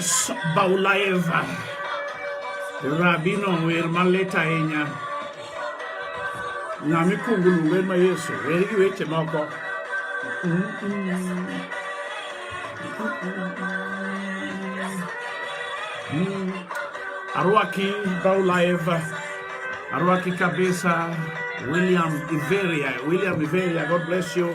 Yes, Baulaeva. Rabino wer malit ahinya. Ng'ama ikwongo luongo en ma Yesu. Wer gi weche moko. Arwaki Baulaeva. Arwaki kabisa. William Iveria. William Iveria, God bless you.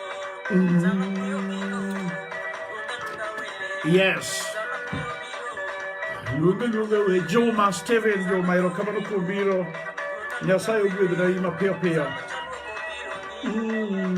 Yes. Luonge luonge we Juma Steven Juma erokamano kuom biro. Nyasaye ogwedh na ima piyo piyo. Mm-hmm.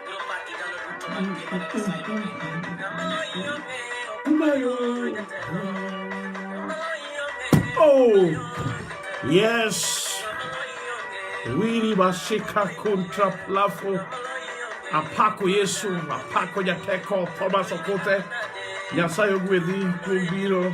Oh, yes. Wili basika kontra plafo. Apako Yesu, apako Nyateko, Thomas Okote. Nyasaye ogwedhi kuom biro.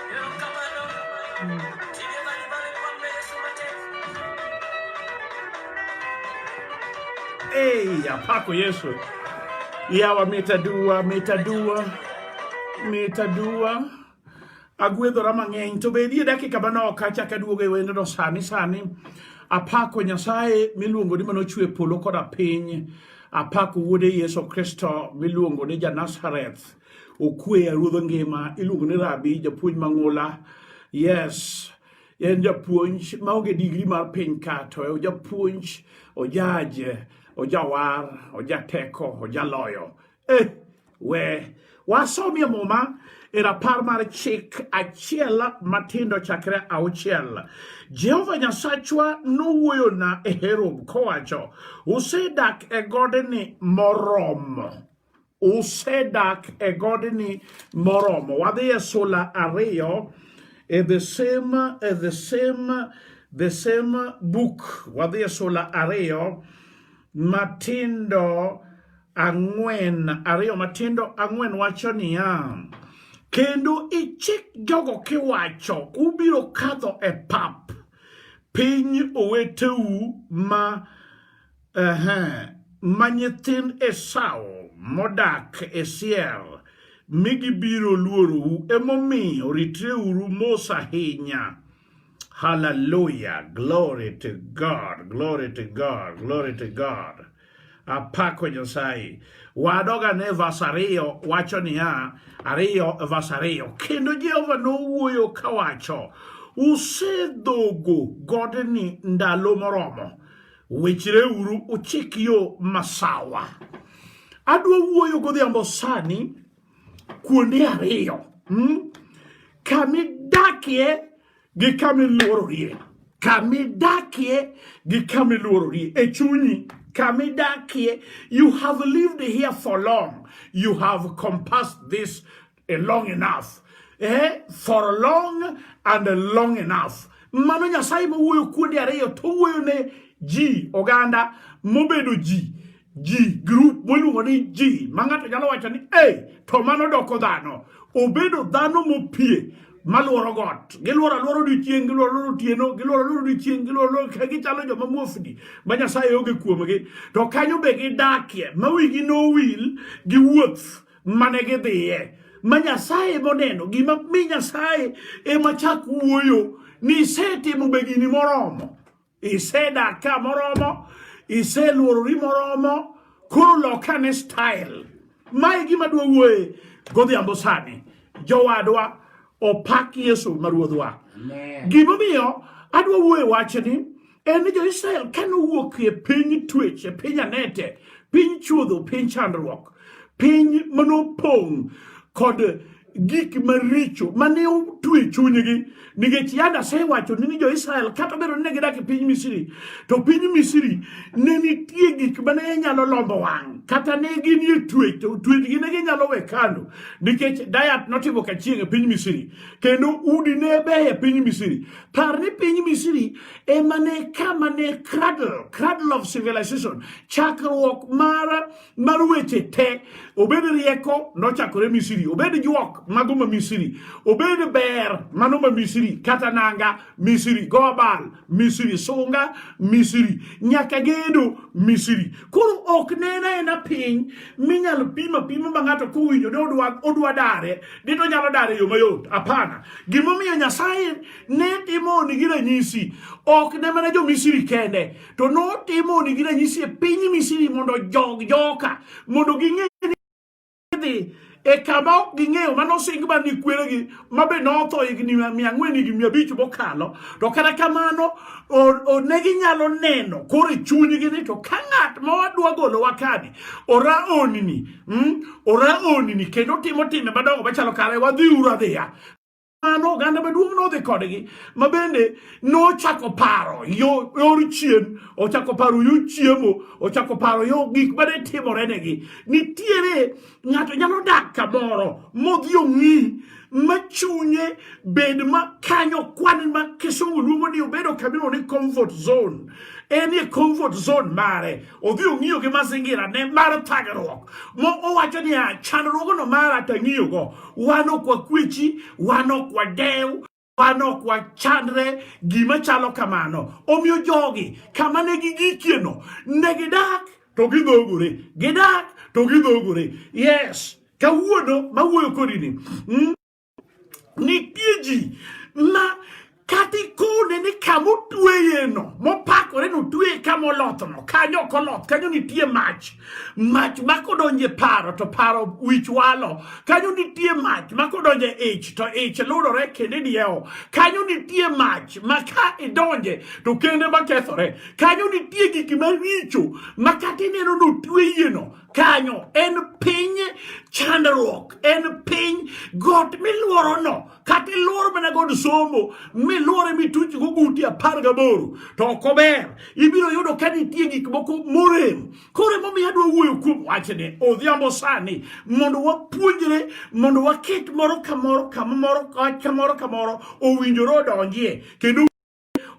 Hey, apako Yesu yawa mitadua mitadua mitadua agwedhora mang'eny to be nie dakika manok kachak aduogo e wendno sani sani apako nyasaye miluongo ni manochwe polo koda piny apako wuode yesu kristo miluongo ni janazareth okweya ruodho ngima iluongo ni rabi japuonj mang'ula yes en japuonj maonge digri mar piny ka to e japuonj ojaje ojawar ojateko ojaloyo eh, we wasomie muma e rapar mar chik achiel matindo chakre auchiel jehova nyasachwa nowuoyona e herob kowacho usedak e godni moromo usedak e godni moromo wadhi e sula ariyo e the same, e the same, the same book wadhi e sula ariyo matindo ang'wen ariyo matindo ang'wen wacho niya kendo ichik jogo kiwacho ubiro kadho e pap piny oweteu ma Ehe, ma nyithind Esau modak e Seir, mi gibiro luorou. Emomiyo ritreuru mos ahinya. Hallelujah. Glory to God. Glory to God. Glory to God. Apako Nyasaye. Wadoga ne vas ariyo wacho niya, ariyo vas ariyo. Kendo Jehova nowuoyo kawacho, usedhogo godni ndalo moromo. Wichreuru uchik yo masawa. Adwa wuoyo godhiambo sani kuonde ariyo hmm? kamidakie gi kamiluororie kamidakie gi kamiluororie e chunyi kamidakie you have lived here for long you have compassed this a long enough eh, for a long and a long enough mano nyasaye mawuoyo kuonde ariyo to wuoyo ne ji oganda mobedo ji ji group moluongo ni ji ma ng'ato nyalo wacho ni hey, to mano doko dhano obedo dhano mopie malworo got gilworo alworo odiochieng gilworo alworo otieno gilworo alworo odiochieng gilworo alworo ka gichalo joma muofni ma nyasaye onge kuomgi to kanyo be gidakie ma wigi nowil gi wuoth mane gidhiye ma Nyasaye moneno gima mi Nyasaye ema chak wuoyo ni isetimo begini moromo isedak ka moromo iseluorori moromo koro lokane style mae gima dwa wuoye godhiambo sani jowadwa opak yesu ma ruodhwa gimomiyo adwa wuoye wachni en ni jo-Israel kane owuok e piny twech e piny anete piny chuodho piny chandruok piny manopong' kod gik maricho mane otwe chunygi nikech yanda asewacho ni jo-Israel kata obedo ni ne gidak e piny Misri to piny Misri ne nitie gik mane nyalo lombo wang' kata ne gin e twech to twechgi ne ginyalo we kando nikech dayat notimo kachieng' e piny Misri kendo udi ne beyo e piny Misri Par ni piny Misri ema ne kama ne cradle, cradle of civilization, chakruok mar, mar weche te. Obed rieko nochakore Misri, obed juok mago ma Misri, obed ber mano ma Misri, kata nanga Misri, gobal Misri, sunga Misri, nyaka gedo Misri. Koro ok nena ena piny minyalo pima pima ma ng'ato kowinjo ni odwa, odwa dare Dito nyalo dar e yo mayot? Hapana. Gimomiyo Nyasaye ne timoni gi ranyisi ok ne mana jo Misri kende, to notimoni gi ranyisi e piny Misri mondo jog joka, mondo ging'e ni dhi e kama ok ging'eyo mane osing ba ni kweregi ma be notho higni mia ang'wen higni mia abich mokalo to kata kamano ne ginyalo neno koro e chunygi ni to ka ng'at ma wadwa golowa kani ora onni Mm, ora onini kendo timo time madongo machalo kare wadhi uru adhiya mano oganda maduong' nodhi kodgi ma bende nochako paro yo yor chien ochako paro yo chiemo ochako paro yo gik ma ne timorenegi nitiere ng'ato nyalo dak kamoro modhi ong'i ma chunye bed ma kanyo kwan ma kisungu luongo ni obedo kamino ni comfort zone en e comfort zone mare odhi ong'iyo gi mazingira ne mar thagruok mo owacho ni a chandruogno mara tang'iyogo wan ok wakwechi wan ok wadew wan ok wachandre gima chalo kamano omiyo jogi kama ne gigikieno ne gidak to gidhogore gidak to gidhogore yes Kawuono mawuoyo kodini mm, nitie ji ma kata ikone ni kama otweyeno mopakore ni otweye kama olothno kanyo ok oloth kanyo nitie mach mach ma kodonje paro to paro wich walo kanyo nitie mach ma kodonje ich to ich lurore kendo idiewo kanyo nitie mach ma ka idonje to kende ma kethore kanyo nitie gik maricho ma kata ineno ni otweyeno kanyo en piny chandruok en piny got miluorono kata iluoro mana god somo miluore mituch go guti apar gaboro to ok ober ibiro yudo ka nitie gik moko morem koro emomiyo adwa wuoyo kuom wachni odhiambo sani mondo wapuonjre mondo waket moro kamoro kamoro kamoro kamoro owinjore odonjie kendo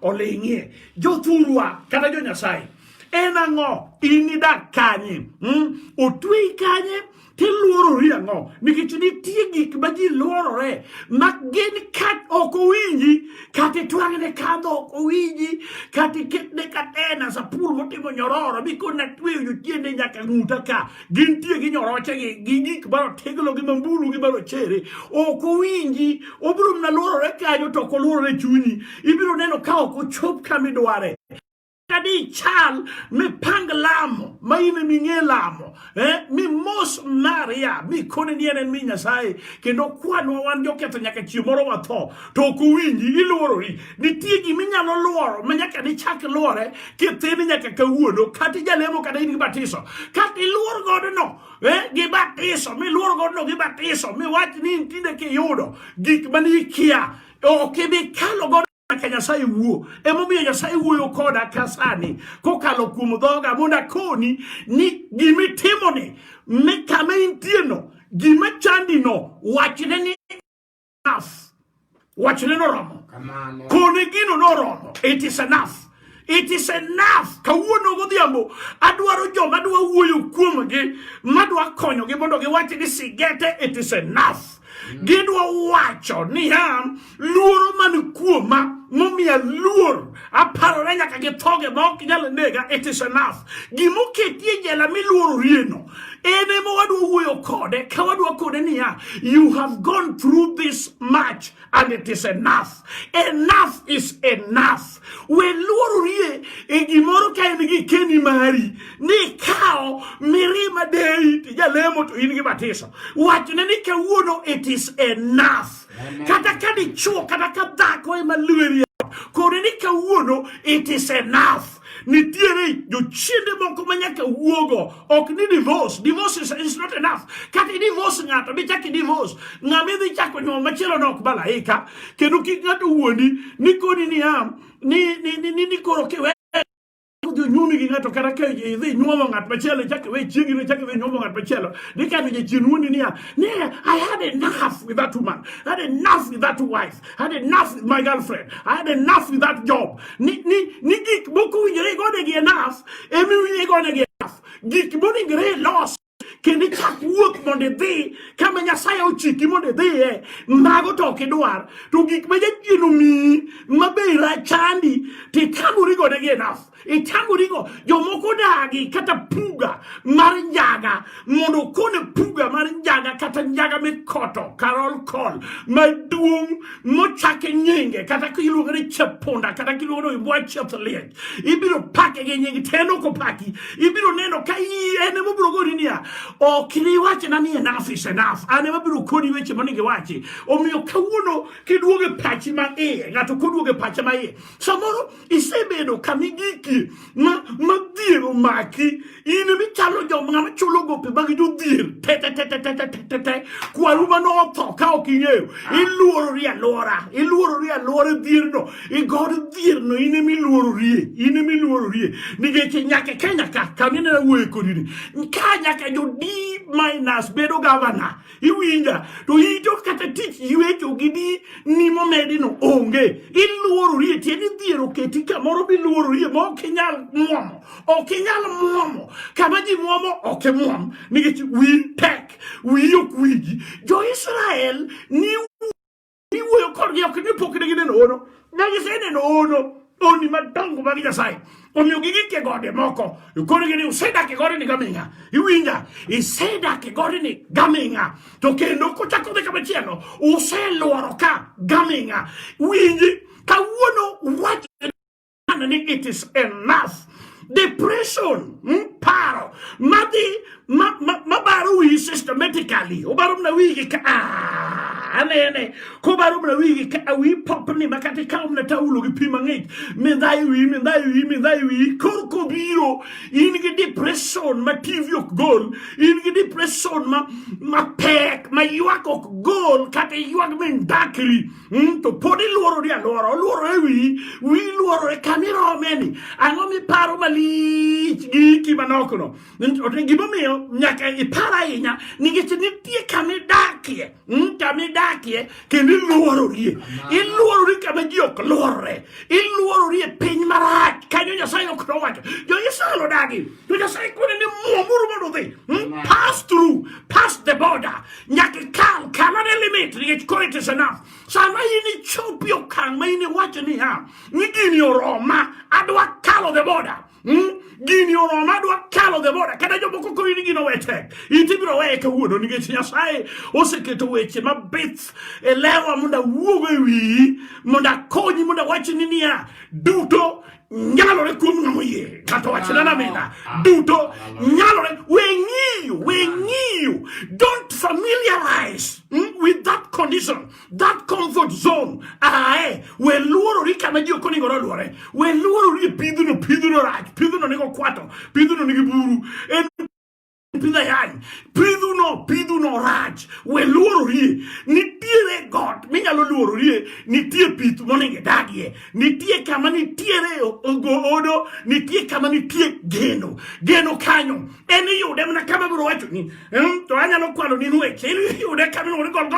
oling'ie jothurwa kata jo Nyasaye en ang'o in idak kanye mm? otweyi kanye tiluorori ang'o nikech nitie gik ma ji luorore ma gin kat ok owinji kata itwang'ne kadho ok owinji kata iketne katena sapul motimo nyororo mikona tweyo jotiende nyaka ng'uta ka gintie gi nyorochegi gi gik marotego gi mambulu gi marochere ok owinji obiro mana luorore kanyo to ok oluorore chunyi ibiro neno ka ok ochop kama idware kadi chal mipang lamo ma in ema ing'e lamo eh? mimos maria mikone ni en en mi nyasaye kendo kwanwa wan joketho nyaka chieng' moro watho to ok owinji iluorori nitie gima inyalo luoro ma nyaka nichak luore kithini nyaka kawuono kata ijalemo kata in gi batiso kata iluor godono eh, gi batiso miluor godono gi batiso miwach ni in tinde kiyudo gik mane ikia ok ibi kalo godo nyaka nyasaye wuo emomiyo nyasaye wuoyo koda ka sani kokalo kuom dhoga mondo akoni ni gimitimoni ni kama intieno gima chandino wachne ni enough. Wachne noromo. Kone gino noromo. It is enough. It is enough. Kawuono godhiambo adwaro joma dwa wuoyo kuomgi madwa konyogi mondo giwach ni sigete it is enough. Mm. Gidwa wacho niya luoro man kuoma momiya luor aparore nyaka githoge ma ok nyal nega it is enough gima oketi e jela miluororieno en ema wadwa wuoyo kode ka wadwa kode niya you have gone through this much and it is enough enough is enough we luororie e gimoro ka en gi keni mari ni kawo mirima deyi tijalemo to in gi batiso wachne ni kawuono it is enough kata ka dichuo kata ka dhako ema lweri kore ni kawuono it is enough nitiere jochiende moko ma nyaka wuogo ok ni divorce divorce is, is not enough kata idivorce ng'ato dichak idivorce ng'ama idhi chako nyuol machielo ne ok malaika kendo kik ng'ato wuondi ni koni niya ni, ni, ni, ni, ni koro kiwe kodhi onyuomi gi ng'ato kata ka idhi inyuomo ng'at machielo ichak iwe chiegi ichak iwe inyuomo ng'at machielo dikano jachien wuondi niya ni I had enough with that woman I had enough with that wife I had enough with my girlfriend I had enough with that job ni ni ni gik moko winjore igonegi enough emi winjore igonegi enough gik monegre loss kendo ichak wuoth mondo idhi kama nyasaye ochiki mondo idhiye mago to ok idwar to gik ma jachien omiyi ma be rachandi to itamori godegi enaf itamorigo jomoko dagi kata puga mar njaga mondo okone puga mar njaga kata njaga mikoto karol kol maduong' mochake nyinge kata kiluongo ni chepunda kata kiluongo ni imbwa chieth liech ibiro pake gi nying te nok opaki ibiro neno ka en ema obiro gori niya ok niwachna ni enough is enough an ema abiro koni weche monego iwachi omiyo kawuono kiduogo e pachi ma iye ng'ato koduogo e pache ma iye samoro isebedo kama igikie ma dhier omaki in emi chalo joma chulo gope mag jodhier tetetetetetetete kwaru mane otho ka ok ing'eyo iluorori alwora iluorori alwora dhierno igod dhierno in emi luororie in emi luororie nikech nyaka kenya ka kaminena wuoye kodini ka nyaka jodi minus bedo gavana iwinja to ito kata tich ywecho gi di ni momedi no onge iluorori e tieni dhiero keti kamoro biluorori e ma ok inyal muomo ok inyal muomo kama ji muomo ok imuom nikech wi tek wiyi ok wiji jo israel ni iwuoyo kodgi ok ni pok ne gineno hono ne giseneno hono honni madongo mag nyasaye omiyo gigik e gode moko korgi ni usedak e godeni gaming'a iwinja isedak e godeni gaming'a to kendo kochako dhi kamachielo uselworo ka gaming'a winji kawuono wach ni it is enough depression hmm? paro madhi mabaro ma, ma wiyi systematically obaro mna wigi ka ah, anene kobaro mna wigi ka awi ah, popni makati kawo mna taulo gi pi mang'ich mindhayi wiyi mindhayi wiyi mindhayi wiyi kor kobiro in gi depression ma tv ok gol in gi depression ma, ma pek ma ywak ok gol kata ywak mindakri Mm, to pod iluoro ni aluora oluoro e wi wi luoro e kama irome ni ang'o miparo malich gi iki manokno gimomiyo nyaka ipar ahinya nikech nitie kama idakie mm, kama idakie kendo iluororie iluorori kama ji ok luorre iluorori e piny marach kanyo nyasaye ok nowacho jo-israel odagi To Nyasaye kwene ni mwomuru mondo udhi. Hmm? Pass through, pass the border. Nyaka ikal, kal ane limit nikech koro it is enough. Sama in ichopi okang' ma in iwacho niya, ni gini oroma, adwa kalo the border. Hmm? Gini oroma adwa kalo the border. Kata jomoko koro ni gino wete. Iti biro weye kawuono nikech Nyasaye oseketo weche mabith e lewa mondo awuog e wiyi, mondo akonyi, mondo awachni niya, duto nyalore kuom ng'ama oyie ng'ato wachna na mina duto nyalore we ng'iyo we ng'iyo don't familiarize hmm, with that condition that comfort zone ae we luorori kama ji ok onego noluore we luorori e pidhno pidhno rach pidhno nego kwato pidhno nigi buru pidh ayany pidhuno pidhuno rach we luororie nitiere got minyalo luororie nitie pith monego idagie nitie kama nitiere ogodo nitie kama nitie geno geno kanyo en iyude mana kama biro wachoni hmm, to anyalo kwano ni nweche iyude kama iluongo ni golgo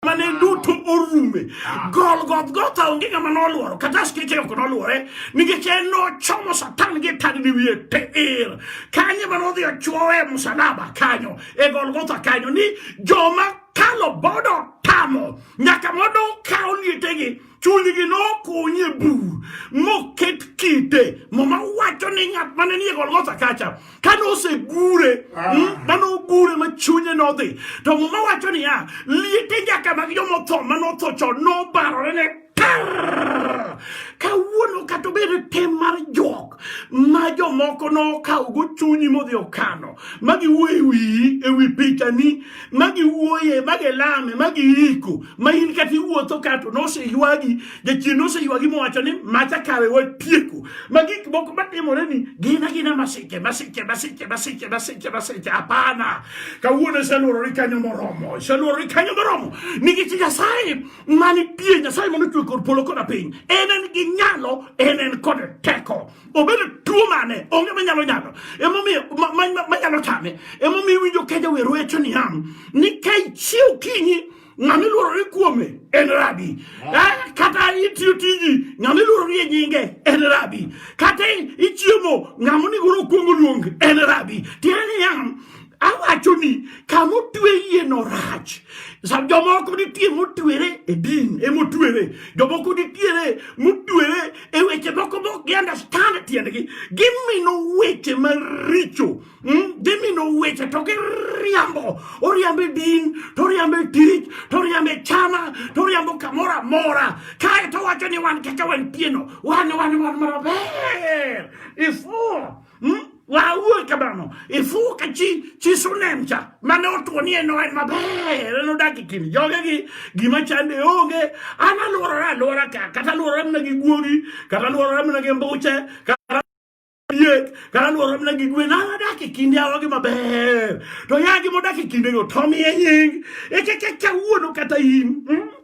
mane duto orume ah. golgothgotha onge ng'ama noluoro kata askeche ok noluore nikech en nochomo satan gi tadni wiye teir kanye ma nodhi ochuowe e musalaba kanyo e golgotha kanyo ni joma kalo bodo tamo nyaka modo kawo lietegi chunygi nokuny e bur moket kite muma wacho ni ng'at mane nie golgotha kacha ka nosegure ah. hmm, ma nogure ma chunye nodhi to muma wacho niya liete nyaka mag jomotho ma notho chon nobarore ne kawuono kata obedo tem mar jok ma jomoko nokawogo chunyi modhi okano ma giwuoyo e wiyi e wi pichani ma giwuoye ma gilame ma giiko ma in kata iwuotho kato noseywagi jachien noseywagi mowacho ni macha kawe watieko ma gik moko matimore ni gina gina masiche masiche masiche masiche masiche masiche hapana kawuono iseluorori kanyo moromo iseluorori kanyo moromo nikech nyasaye manitie nyasaye manochwe kod polo koda piny en en gi nyalo en en kod teko obedo tuo mane onge manyalo nyalo emomiyo manyalo tame emomiyo winjo keja wer wecho niya ni ka ichiew kinyi ng'ama iluorori kuome en rabi eh, kata itiyo tiji ng'ama iluorori e nyinge en rabi kata ichiemo ng'ama onego okuongo luong en rabi tiende niya awacho ni kama otwe yie no rach jomoko nitie motwere e din emotwere jomoko nitiere motwere e weche moko mok gi understand tiendgi gimino weche maricho hmm? gimino weche to giriambo oriambo e din to oriambo e tich to oriambo e chama to oriambo kamoro amora kae to wacho ni wan kaka wantieno wan wan wan maber ifuo Hmm? Wawuoyi kamano, ifuka chi chi sunem cha mane otuoni en en maber, en odak e kind jogegi, gima chande onge, an aluorora aluora ka, kata aluorora mana gi guogi, kata aluorora mana gi mbuche, kata diek, kata aluorora mana gi gwen, an adak e kind yawogi maber. To yagi modak e kindego to miye nying, ekekeka wuono kata in. Hmm?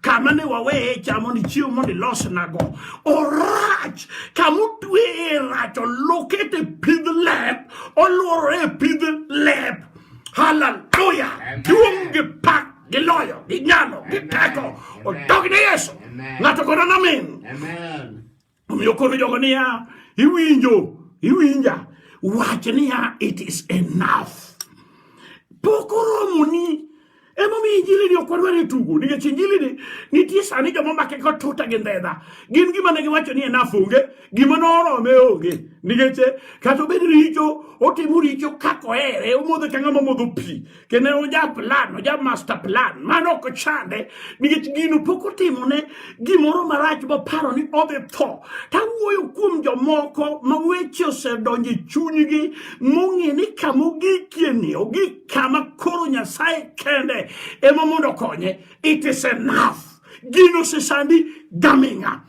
kama ne waweye cha mondo ichiw mondo ilosnago orach kama otweye rach olokete pidh lep olworore e pidh lep haleluya duong' gi pak gi loyo gi nyalo gi teko odogne yesu ng'ato kono namin Omiyo koro jogo niya, iwinjo, iwinja, wach niya, it is enough. Pok oromoni emomiyo injilini ok wadwar e tugo nikech injilini nitie sani joma make ko tuta gi ndhedha gin gima ne giwacho ni enaf onge gima norome onge nikech kata obed richo otimo richo kaka ohere omodho ka ng'ama modho pi kendo en oja plan oja master plan mano ok chande nikech gino pok otimone gimoro marach moparo ni odhi tho tawuoyo kuom jomoko ma weche osedonjo e chunygi mong'e ni kama ogikieni ogik kama koro nyasaye kende ema mondo okonye it is enough gino sesandi gaming'a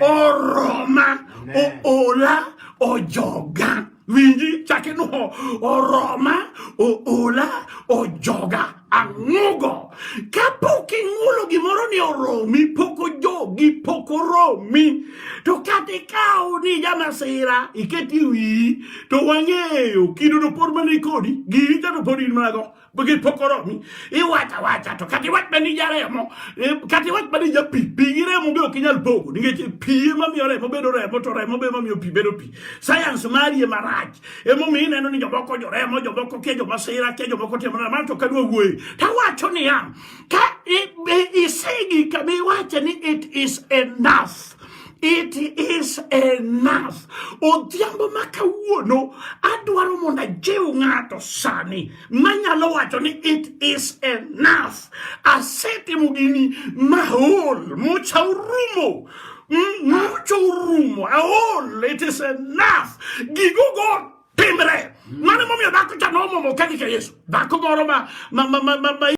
oroma oola ojoga winji chake no oroma oola ojoga ang'ugo kapok ing'ulo gimoro ni oromi pok ojogi pok oromi to kata ikaw ni jamasira iketi wiyi to wang'eyo kido to pod mana ikodi giri to pod in mana go bagi pokoro mi iwacha wacha to kati wat bani jare mo eh, kati wat bani ja pi pi gire mo beo kinyal bogo ninge ti pi ma mi ore mo bedo re mo to re mo be ma mi pi bedo pi science mari e marach e mo mi neno ni jobo ko jore mo jobo ko ke jobo sira ke jobo ko temo ma to kadwa wuoyi ta wacho ni ya ka isegi ka mi wacha ni it is enough It is enough. Odhiambo ma kawuono adwaro mondo ajiw ng'ato sani manyalo wacho ni it is enough. Asetimo gini maol mucha orumo mucha orumo aol it is enough. Gigo go timre. Mano momiyo dhako cha nomomo kadhi ka Yesu. Dhako moro ma ma ma ma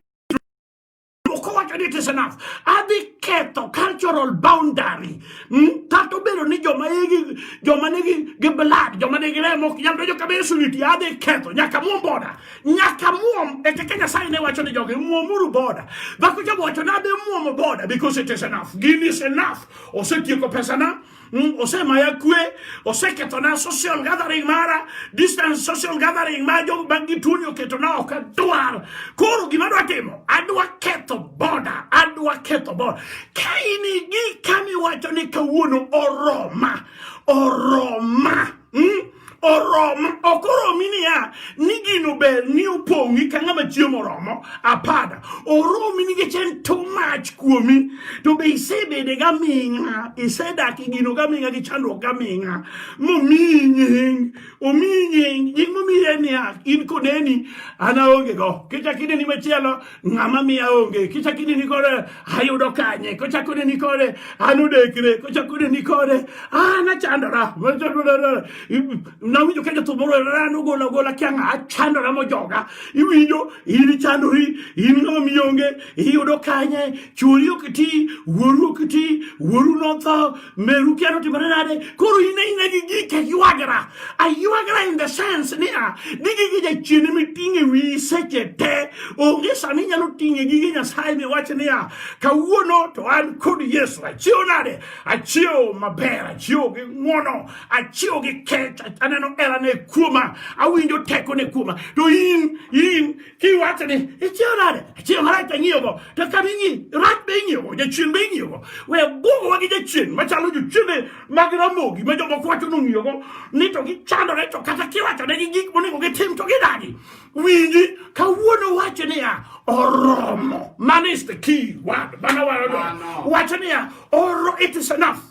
Okowacho ni it is enough. Adhi ketho cultural boundary. Mm? Kata obedo ni joma igi joma nigi gi blood, joma nigi remo ok nyal donjo kama Yesu nitie, adhi ketho nyaka muom boda. Nyaka muom e kaka Nyasaye ne wacho ni jogi muomuru boda. Dhako jawacho ni adhi muomo boda because it is enough. Gin is enough. Osetieko pesana. Mm, ose maya kue ose ketona social gathering mara distance social gathering ma jo bangi tuni oketo na ok adwar koro gima adwa timo adwa ketho boda adwa ketho boda ka in gi kamiwacho ni kawuono oroma oroma hmm? oromo ok oromi niya ni gino ber ni opong'i ka ng'ama chiemo oromo apada oromi nikech en too much kuomi to be isebede gaming'a isedak e gino gaming'a gi chandruok gaming'a momiyi nying omiyi nying nying momiyi en niya in koneni an aonge go kichak ineni machielo ng'ama miya onge kichako ineni kore ayudo kanye kochako ineni kore an odekre kochako ineni kore an achandora nawinjo ka jathum moro an ogola ogola kia ng'a achandora mojoga iwinjo in ichandori in ng'ama miya onge iyudo kanye chwori ok ti wuoru ok ti wuoru notho Meru kia notimore nade? Koro in aina gi gik aywagra. Aywagra in the sense niya, ni gige jachien ema iting'e wiyi seche te. Onge sama inyalo ting'e gige Nyasaye miwach niya, kawuono to an kod Yesu. Achiew nade? Achiew maber, achiew gi ng'wono, achiew gi kech, aneno herane kuoma, awinjo tekone kuoma. To in, in kiwacho ni ichiew nade achiew marach to ing'iyogo to kama ing'i rach be ing'iyogo jachien be ing'iyogo we bwogowa gi jachien machalo jochiende mag ramogi ma jomoko wacho ni ong'iyogo ni to gichandore to kata kiwacho negi gik monego gitim to gidagi winji kawuono wacho niya oromo man is the key word mana wacho niya oro it is enough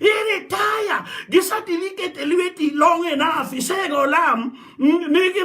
iretire gi certificate e lweti long enough isego olam nigi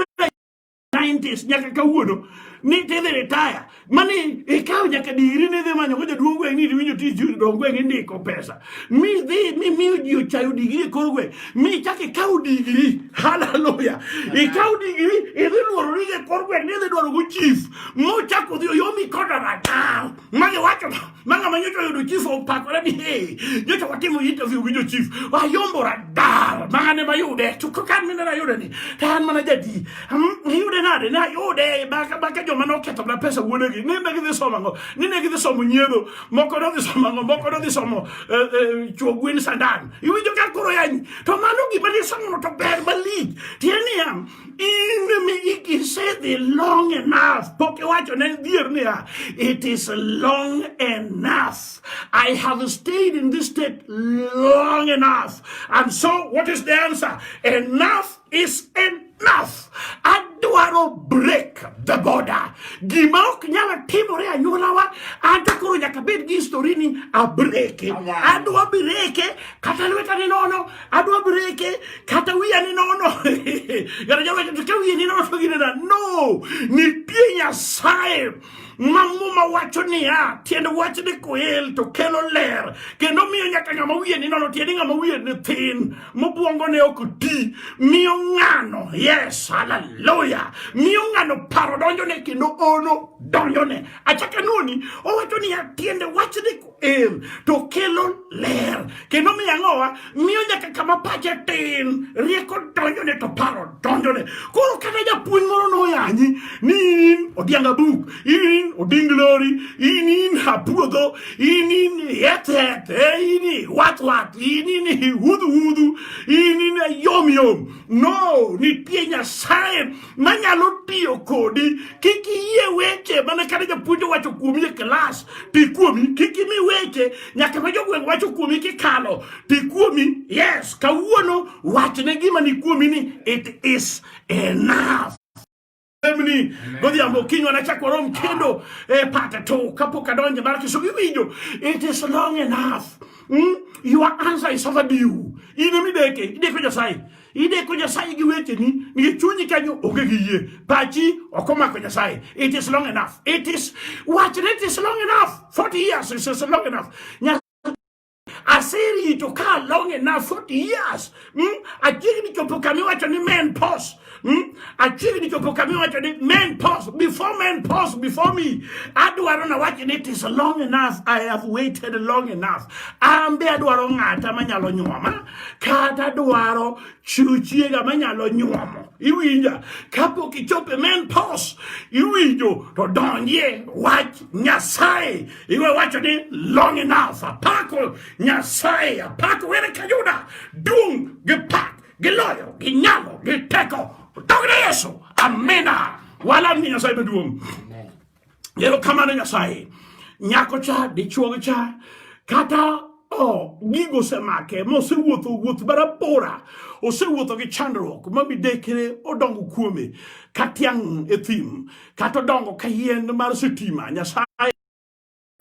90s nyaka kawuono ni tidhi retire mani ikaw nyaka digri ni dhi manyo ko jaduong' gweng' ni iwinjo tich dong gweng' indiko pesa mi dhi mi miyo ji ochayo digri e kor gweng' mi chak ikaw digri haleluya ikaw digri idhi luorori e kor gweng' ni idhi dwaro go chief mochako dhi oyomi koda radar ma giwacho Manga ma nyocha oyudo chief opakore ni hey, nyocha watimo interview gi jochief wayombo radar manga ne mayude to kaka an mine nayude ni to an mana jadi hmm, niyude nade ne ayude baka baka joma noketho na pesa wuonegi ni ne gidhi somo ang'o ni ne gidhi somo nyiedho moko nodhi somo ang'o moko nodhi somo eh, eh, chuo gwen sandan iwinjo ka koro yanyi to mano gima nisomono to ber malich tiende niya In the meaning, he said the long enough. Poke wacho ne dhier niya, it is long enough. I have stayed in this state long enough. And so what is the answer? Enough is enough. Adwaro break the border. Gima ok nyalo timore anyuolawa, anto koro nyaka bed gi historini abreke. Adwa breke kata lweta ni nono adwa breke kata wiya ni nono kata jawacho to ka wiya ni nono to ginena no nitie nyasaye ma muma wacho niya tiend wach ni koel to kelo ler kendo miyo nyaka ng'ama wiye ni nono tiende ng'ama wiye ni thin mobwongo ne ok ti miyo ng'ano yes haleluya miyo ng'ano paro donjone kendo ono donjone achaka noni owacho niya tiende wach ni em to kelo ler kendo miyo ang'owa miyo nyaka kama pache tin rieko donjone to paro donjone koro kata japuonj moro noyanyi ni in odianga buk in oding lori in in apuodho in in yethet in watwat in in hudhuhudhu in in yomyom no nitie nyasaye manyalo tiyo kodi kik iyie weche mana kata japuonj owacho kuomi e klas ti kuomi kik imi weche nyaka ma jogweng' wacho kuomi kikalo ti kuomi yes kawuono wachne gima ni kuomi ni it is enough ni godhiambo kiny wanachak warom kendo e pata to kapok adonje mar kiso iwinjo it is long enough mm? your answer is overdue in mideke ideko nyasaye Ideko Nyasaye gi wecheni nikech chunyi kanyo onge gi yie, pachi ok omako Nyasaye. It is long enough. It is wachre it is long enough. 40 years is, is long enough. Nyasaye aserito ka long enough 40 years. Mm? Achiegni chopo kama iwacho ni men pause. Mm? Achiegni chopo kama iwacho ni men pause. Before men pause before me. Adwaro na wacho ni it is long enough. I have waited long enough. Ambe adwaro ng'ata manyalo nyuoma. kata dwaro chiwo chiega manyalo nyuomo iwinja kapok ichope men pos iwinjo to donjie wach nyasaye iwe wacho ni long enough apako nyasaye apako were kayuda duong' gi pak gi loyo gi nyalo gi teko dogre yesu amina wala ni nyasaye maduong' Ero kamano Nyasaye. Nyako cha, dichuo cha, kata o gigo osemake ma osewuotho wuoth barabora osewuotho gi chandruok ma midekre odongo kuome ka tiang' e thim kata odongo ka yien mar sitima nyasaye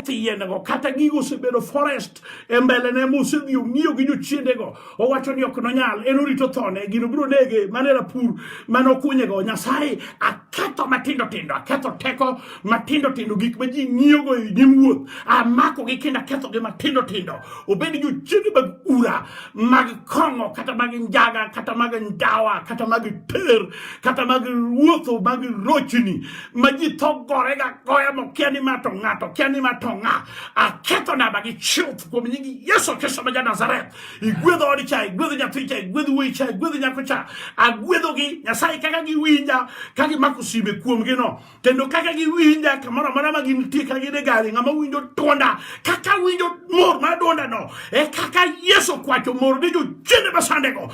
keth yiendego kata gigo osebedo forest e mbelene mosedhi ong'iyo gi jochiendego owacho ni ok nonyal en orito thone gino biro nege mane rapur mane okunyego nyasaye aketho matindo tindo aketho teko matindo tindo gik ma ji ng'iyogo e nyim wuoth amakogi kendo akethogi matindo tindo obed jochiende mag ura mag kong'o kata mag njaga kata mag ndawa kata mag ter kata mag wuotho mag rochni ma ji tho gorega goya mokia ni mato ng'ato kia ni mato ng'a aketho namba gi chuth kuom nyingi yesu kristo ma ja nazareth igwedho odi cha igwedho nyathi cha igwedho wuoyi cha igwedho nyako cha agwedhogi nyasaye kaka giwinja ka gimako sime kuomgi no kendo kaka giwinja kamoro amora ma gintie ka gin e gari ng'ama winjo dwonda kaka winjo mor mar dwonda no e kaka yesu kwacho mor ni jochiende masandego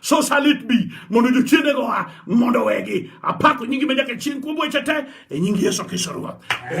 So shall it be. Mondo jochiende go ha, mondo wegi. Apako nyingi menyaka chieng' kuom weche te, e nyingi Yesu Kristo Ruoth.